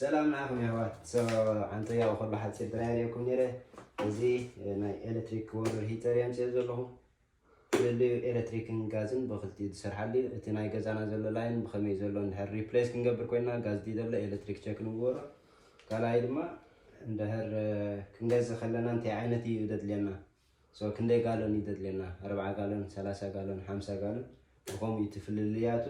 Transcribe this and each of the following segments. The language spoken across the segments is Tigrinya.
ሰላም ንዓኹም የሕዋት ሶ ኣንተ ያው ከሎ ሓጺር ጥራይ ኣርእየኩም ነይረ እዚ ናይ ኤሌክትሪክ ወርር ሂተር የምጽኦ ዘለኹ ፍልልዩ ኤሌክትሪክን ጋዝን ብክልቲኡ ዝሰርሓሉ እዩ እቲ ናይ ገዛና ዘሎ ላይን ብኸመይ ዘሎ እንድሕር ሪፕሌስ ክንገብር ኮይና ጋዝ ድዩ ዘሎ ኤሌክትሪክ ቸክ ንግበሮ ካልኣይ ድማ እንድሕር ክንገዝእ ከለና እንታይ ዓይነት እዩ ዘድልየና So ክንደይ ጋሎን እዩ ዘድልየና ኣርብዓ ጋሎን ሰላሳ ጋሎን ሓምሳ ጋሎን ብከምኡ እዩ እቲ ፍልልያቱ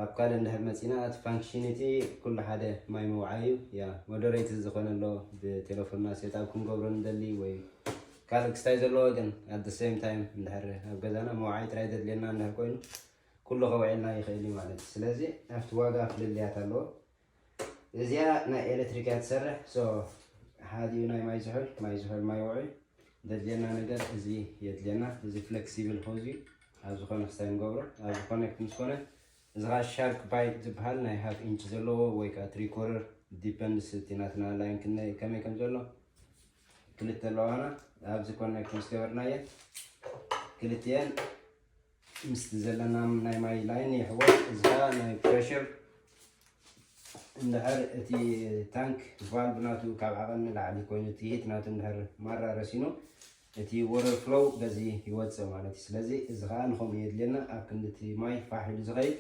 ኣብ ካልእ እንድሕር መፂና እቲ ፋንክሽኒቲ ኩሉ ሓደ ማይ ምውዓይ እዩ ያ ሞደሬት ዝኾነ ኣሎ ብቴሌፎንና ሴትኣብ ክንገብሮ ንደሊ ወይ ካልእ ክስታይ ዘለዎ ግን ኣት ሴም ታይም እንድሕር ኣብ ገዛና መውዓይ ጥራይ ዘድልየና እንድሕር ኮይኑ ኩሉ ከውዕልና ይኽእል እዩ ማለት እዩ ስለዚ ኣብቲ ዋጋ ፍልልያት ኣለዎ እዚኣ ናይ ኤሌክትሪክ እያ ትሰርሕ ሶ ሓዲኡ ናይ ማይ ዝሑል ማይ ዝሑል ማይ ውዑይ ዘድልየና ነገር እዚ የድልየና እዚ ፍሌክሲብል ሆዝ እዩ ኣብ ዝኾነ ክስታይ ንገብሮ ኣብዚ ኮኔክት ምስ ኮነ እዚ ከዓ ሻርክ ባይ ዝበሃል ናይ ሃፍ ኢንች ዘለዎ ወይ ከዓ ትሪ ኮረር ዲፐንድስ እቲ ናትና ላይን ክንደይ ከመይ ከም ዘሎ ክልተ ኣለዋና ኣብዚ ኮኔክት ምስ ገበርናየ ክልትኤን ምስቲ ዘለና ናይ ማይ ላይን የሕወት እዚካ ናይ ፕሬሽር እንድሕር እቲ ታንክ ቫልቭ ናቱ ካብ ዓቐን ንላዕሊ ኮይኑ እቲ ሂት ናቱ እንድሕር ማራ ረሲኑ እቲ ወረር ፍሎው በዚ ይወፅእ ማለት እዩ ስለዚ እዚ ከዓ ንከምኡ የድልየና ኣብ ክንዲ እቲ ማይ ፋሕ ኢሉ ዝኸይድ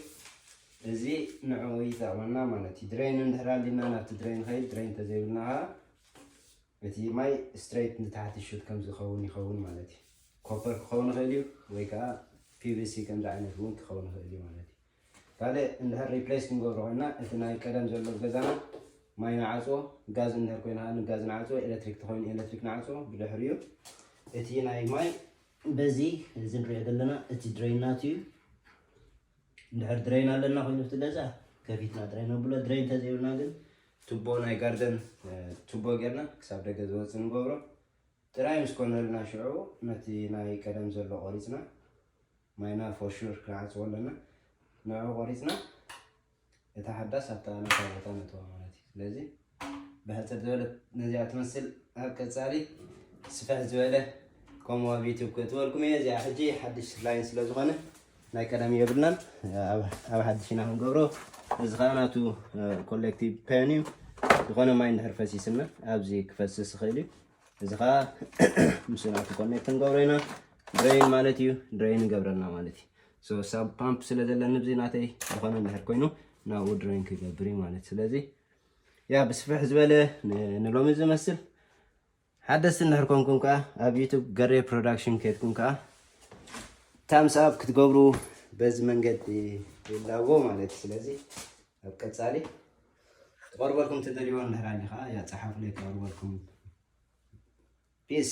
እዚ ንዕኡ ይጠቕመና ማለት እዩ ድሬን እንድሕር ኣሊና ናብቲ ድሬን ኸይድ ድሬን ተዘይብልና ከዓ እቲ ማይ ስትረይት ንታሕቲ ይሹት ከም ዝኸውን ይኸውን ማለት እዩ። ኮፐር ክኸውን ይኽእል እዩ ወይ ከዓ ፒቪሲ ከምዚ ዓይነት እውን ክኸውን ይኽእል እዩ ማለት እዩ። ካልእ እንድሕር ሪፕሌስ ክንገብሮ ኮይና እቲ ናይ ቀደም ዘሎ ኣብ ገዛና ማይ ንዓፅዎ፣ ጋዝ እንድሕር ኮይኑ ከዓ ንጋዝ ንዓፅዎ፣ ኤሌክትሪክ ተኮይኑ ኤሌክትሪክ ንዓፅዎ። ብድሕሪኡ እቲ ናይ ማይ በዚ እዚ ንሪኦ ዘለና እቲ ድሬን ናቱ እዩ። እንድሕር ድረይን ኣለና ኮይኑ እቲ ገዛ ከፊትና ጥራይ ነብሎ ድረይን እንተዘይብልና ግን ቱቦ ናይ ጋርደን ቱቦ ጌርና ክሳብ ደገ ዝወፅእ ንገብሮ ጥራይ ምስ ኮነልና ሽዑ ነቲ ናይ ቀደም ዘሎ ቆሪፅና ማይና ፎሹር ክንዓፅዎ ኣለና ንዕኡ ቆሪፅና እታ ሓዳስ ኣብታ ናታ ቦታ ነእትዋ ማለት እዩ። ስለዚ ብሕጽር ዝበለ ነዚኣ ትመስል ኣብ ቀጻሊ ስፍሕ ዝበለ ከምኡ ኣብ ዩቱብ ክእትወልኩም እየ። እዚኣ ሕጂ ሓድሽ ላይን ስለ ዝኾነ ናይ ቀደም የብልናን ኣብ ሓድሽ ኢና ክንገብሮ። እዚ ከዓ ናቱ ኮሌክቲቭ ፔን እዩ። ዝኾነ ማይ እንድሕር ፈሲስና ኣብዚ ክፈስስ ይኽእል እዩ። እዚ ከዓ ምስ ናቱ ኮኔክት ንገብሮ ኢና። ድሬይን ማለት እዩ ድሬይን ንገብረልና ማለት እዩ። So sub pump ስለ ዘለኒ ብዚ ናተይ ዝኾነ እንድሕር ኮይኑ ናብኡ ድሬን ክገብር እዩ ማለት ስለዚ ያ ብስፍሕ ዝበለ ንሎሚ ዝመስል ሓደስቲ እንድሕር ኮንኩም ከዓ ኣብ ዩቱብ ገሬ ፕሮዳክሽን ከድኩም ከዓ ታምስ ኣብ ክትገብሩ በዚ መንገዲ ይላቦ ማለት እዩ ስለዚ ኣብ ቀፃሊ ትቐርበልኩም ትደልይዎ እንድሕር ኣሊ ከዓ ያ ፀሓፉለይ ክቐርበልኩም ፒስ